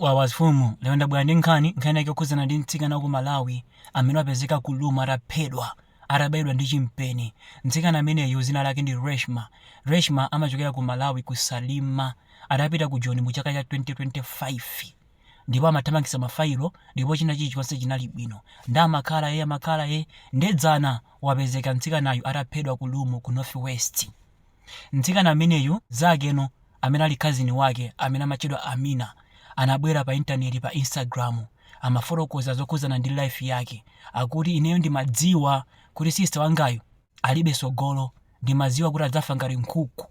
Wawa mfumu lero ndabwera ndi nkhani, nkhani yake yokhudzana ndi mtsikana waku Malawi amene wapezeka ku Rumo ataphedwa atabayidwa ndi chimpeni, mtsikana ameneyu dzina lake ndi Reshma, Reshma amachokera ku Malawi ku Salima adapita ku Joni mu chaka cha 2025 ndipo amathamangitsa ma failo ndipo china chilichonse chinali bwino nde amakhala ee amakhala ee nde dzana wapezeka mtsikanayu ataphedwa ku Rumo ku North West. Mtsikana ameneyu mzake no amene ali cousin wake amene amatchedwa Amina anabwera pa intaneti pa Instagram amafotokoza zokhudzana ndi life yake akuti ineyo ndimadziwa kuti sister wangayu alibe tsogolo ndimadziwa kuti adzafa ngati nkhuku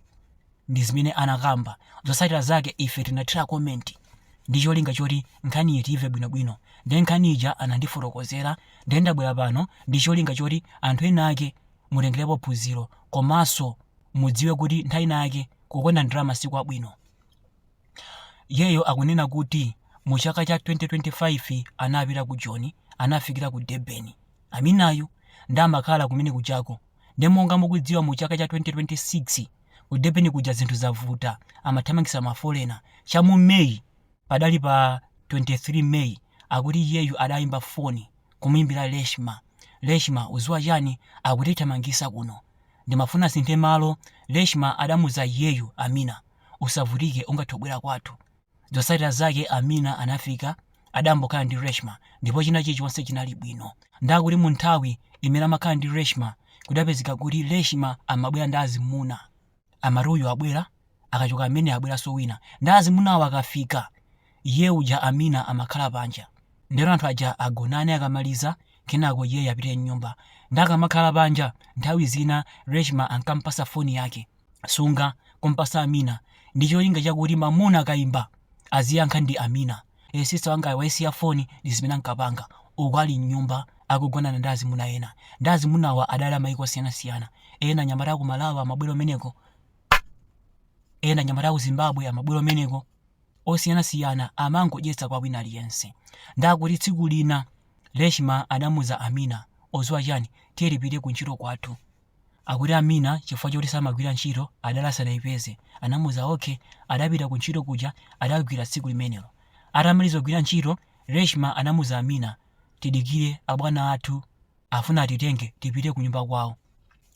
ndizimene anakamba zotsatira zake ife tinathira comment ndi cholinga choti nkhani iyi tiimve bwinobwino nde nkhani ija anandifotokozera nde ndabwera pano ndi cholinga choti anthu enaake mutengerepo phunziro komanso mudziwe kuti nthawi ina yake kukonda ndalama si kwabwino. Iyeyo akunena kuti mu chaka cha 2025 anapita ku Joni anafikira ku Durban. Aminayu nde amakhala kumene kujako. Nde monga mukudziwa mu chaka cha 2026 ku Durban kuja zinthu zavuta, amathamangitsa mafolena. Cha mu May Padali pa 23 May akuti iyeyu adayimba foni kumuyimbira Reshma, Reshma udziwa chani akutithamangitsa kuno nde amafuna asinthe malo, Reshma adamuuza iyeyu Amina usavutike ungathe kubwera kwathu, zotsatira zake Amina anafika adayambokhala ndi Reshma ndipo china chilichonse chinali bwino nde akuti munthawi imene amakhala ndi Reshma kudapezeka kuti Reshma amabwera ndi azimuna amati uyu abwera akachoka amene abweranso wina nde azimunawo akafika iye uja amina amakhala panja ndi cholinga anthu aja agonane akamaliza kenako iyeyo apite mnyumba nde akamakhala panja nthawi zina reshma ankampasa foni yake sunga kumpasa amina ndi cholinga chakuti mamuna akaimba aziyankha ndi amina ee sister wangayo waisiya phone ndi zimene ankapanga uku ali mnyumba akugonana ndi azimuna ena nde azimunawa adali amaiko osiyanasiyana ena anyamata aku malawi amabwera kumeneko ena anyamata aku zimbabwe amabwera kumeneko osiyanasiyana amangodyetsa kwa wina aliyense nde akuti tsiku lina reshma adamuuza amina udziwa chani tiye tipite kuntchito kwathu Akuti Amina chifukwa choti samagwira ntchito adali asadaipeze. Anamuuza ok. Adapita ku ntchito kuja adagwira tsiku limenelo. Atamaliza kugwira ntchito, Reshma anamuuza Amina, Tidikire, abwana athu afuna atitenge tipite kunyumba kwawo.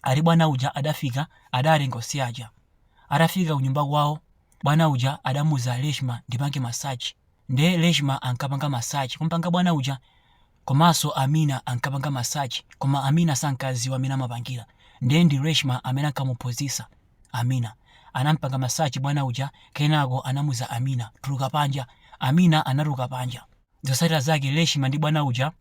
Ati bwana uja adafika adatenga onse aja. Atafika kunyumba kwawo, bwana uja adamuuza Reshma ndipange massage. Nde Reshma ankapanga massage kumupanga bwana uja Komanso Amina ankapanga massage koma Amina sankadziwa mmene amapangira nde ndi Reshma amene ankamuphunzitsa Amina. Anampanga massage bwana uja kenako anamuza Amina, tuluka panja. Amina anatuluka panja. Zotsatira zake Reshma ndi bwana uja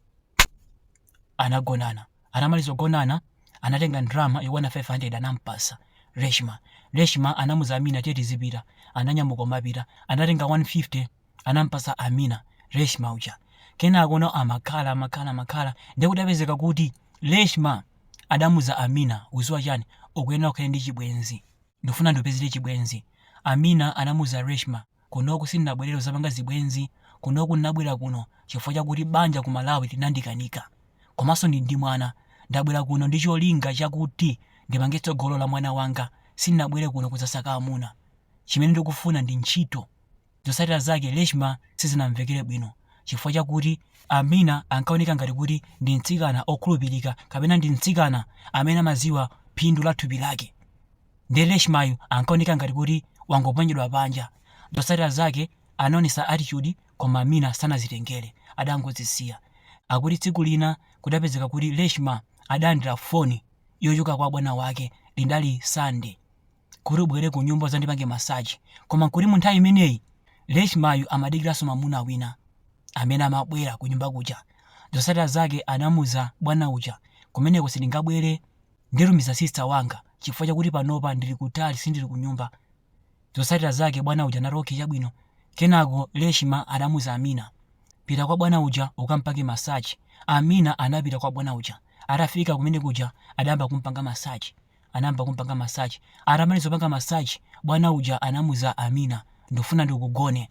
anagonana. Atamaliza kugonana anatenga ndalama yokwana 500 anampatsa Reshma. Reshma anamuza Amina tiye tizipita. Ananyamuka kumapita. Anatenga 150. anampasa Amina Reshma uja kenako kuno amakhala amakhala amakhala ndiye kudapezeka kuti Reshma adamuza Amina uziwa chani ukuyenera ukhale ndi chibwenzi ndikufuna ndikupezere chibwenzi Amina anamuza Reshma kunoku sindinabwerere kuzapanga zibwenzi kunoku ndinabwera kuno chifukwa chakuti banja ku Malawi linandikanika komanso ndili ndi mwana ndabwera kuno ndi cholinga chakuti ndipange tsogolo la mwana wanga sindinabwere kuno kuzasaka amuna chimene ndikufuna ndi ntchito Zotsatira zake, Reshma sizinamvekere bwino chifukwa chakuti Amina ankaoneka ngati kuti ndi mtsikana okhulupirika kapena ndi mtsikana amene amadziwa phindu la thupi lake. Nde Reshma yu ankaoneka ngati kuti wangoponyedwa panja. Zotsatira zake, anaonetsa attitude koma Amina sanazitengere, adangodzisiya. Akuti tsiku lina kudapezeka kuti Reshma adalandira foni yochoka kwa bwana wake, lidali Sunday. kuti ubwere kunyumba udzandipange massage koma nkuti mu nthawi imeneyi Reshmayu amadikiranso mwamuna wina amene amabwera kunyumba kuja. Zotsatira zake anamuuza bwana uja, kumeneko sindingabwere ndikutumiza sister wanga chifukwa chakuti panopa ndili kutali sindili kunyumba. Zotsatira zake bwana uja anati okay chabwino. Kenako Reshma anamuuza Amina, pita kwa bwana uja ukampange massage. Amina anapita kwa bwana uja. Atafika kumene kuja adayamba kumpanga massage. anayamba kumpanga massage atamaliza kupanga massage bwana uja anamuza Amina ndufuna ndikugone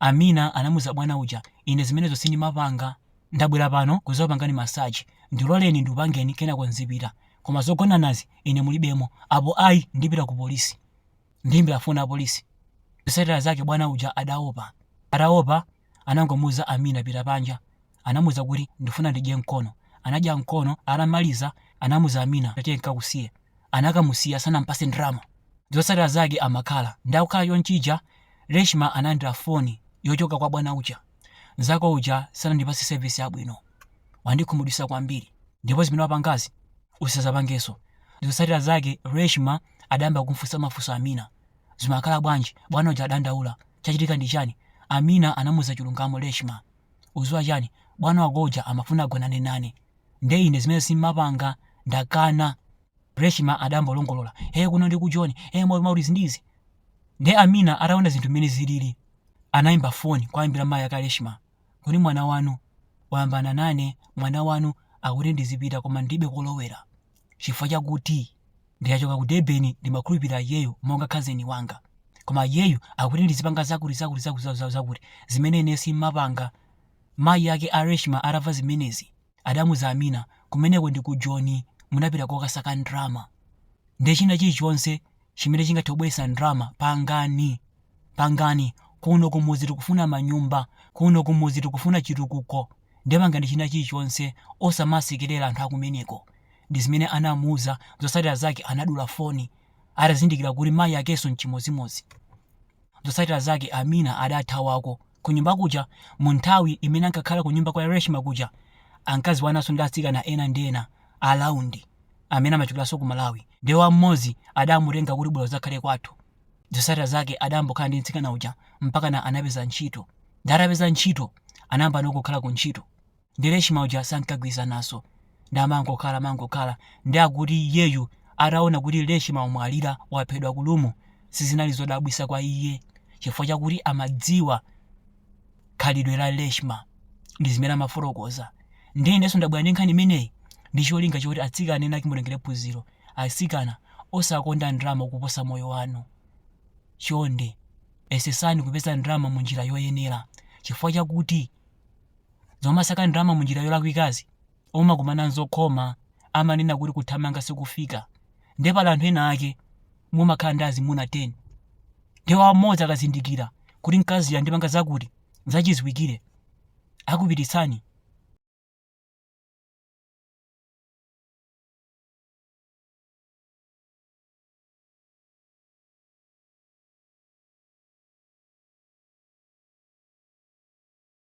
Amina anamuza bwana uja ine zimenezo sindimapanga ndabwera pano kuzakupangani massage ndiloleni ndikupangeni kenako nzipita koma zogonanazi ine mulibemo apo ayi ndipita ku polisi ndiyimbira foni apolisi zosatira zake bwana uja adaopa ataopa anangomuuza Amina pita panja anamuuza kuti ndifuna ndidye mkono anadya mkono atamaliza anamuza Amina tatiye nkakusiye anakamusiya sanampase ndalama zotsatira zake amakhala nde akukhala chonchija Reshma analandira foni yochoka kwa bwana uja nzako uja sanandipase service yabwino wandikhumudwitsa kwambiri ndipo zimene wapangazi usazapangenso zotsatira zake Reshma adayamba kumfunsa mafunso Amina Zimakhala bwanji? Bwana uja adandaula. Chachitika ndi chani? Amina anamuza chilungamo Reshma. Uziwa chani? Bwana wako uja amafuna agonane nane. Nde ine zimenezo simmapanga. Ndakana. Reshma adambolongolola. Hee kuno ndi ku Joni. Eeh mwa koma kuti izi ndi izi. Nde Amina ataona zinthu mmene zilili. Anaimba phone kuwayimbira mayi ake a Reshma. Kuti mwana wanu wayambana nane. Mwana wanu akuti ndizipita koma ndilibe kolowera. chifukwa chakuti nditachoka ku durban ndimakhulupirira iyeyo monga kazeni wanga koma iyeyo akuti ndizipanga zakuti zakuti zakuti zakuti zakuti zakuti zimene ine simapanga mayi ake a reshma atamva zimenezi adamuza amina kumeneko ndi ku joni munapita kukasaka ndrama nde china chilichonse chimene chingathe kubweretsa ndalama pangani pangani kuno kumudzi tikufuna manyumba kuno kumudzi tikufuna chitukuko ndiye pangani china chilichonse osamasekerera anthu akumeneko ndi zimene anamuuza zotsatira zake anadula foni atazindikira kuti mayi akenso mchimodzimodzi zotsatira zake amina adathawako Kunyumba kuja, mu nthawi imene ankakhala kunyumba kwa Reshma kuja, ankadziwananso ndi atsikana ena ndi ena a round amene amachokeranso ku Malawi. Ndiye wina m'modzi adamutenga kuti bwera udzakhale kwathu. Zotsatira zake adayambokhala ndi mtsikana uja mpakana anapeza ntchito. Ndiye atapeza ntchito, anayambano kukhala ku ntchito. Ndi Reshma uja sankagwirizananso nde amangokhala amangokhala nde akuti iyeyu ataona kuti Reshma wamwalira waphedwa ku rumu sizinali zodabwisa kwa iye chifukwa chakuti amadziwa khalidwe la Reshma ndizimene amafotokoza nde ineso ndabwera ndi nkhani imeneyi ndi cholinga choti atsikana ena ake mutengere phunziro atsikana osakonda ndalama kuposa moyo wanu chonde yesetsani kupeza ndalama munjira yoyenera chifukwa chakuti zomasaka ndalama munjira yolakwikazi umakumana nzokhoma amanena kuti kuthamanga sikufika nde pali anthu ena ake mumakhala ndi azimuna 10 nde wa mmodzi akazindikira kuti mkaziyu wandipanga zakuti zachidziwikire akupititsani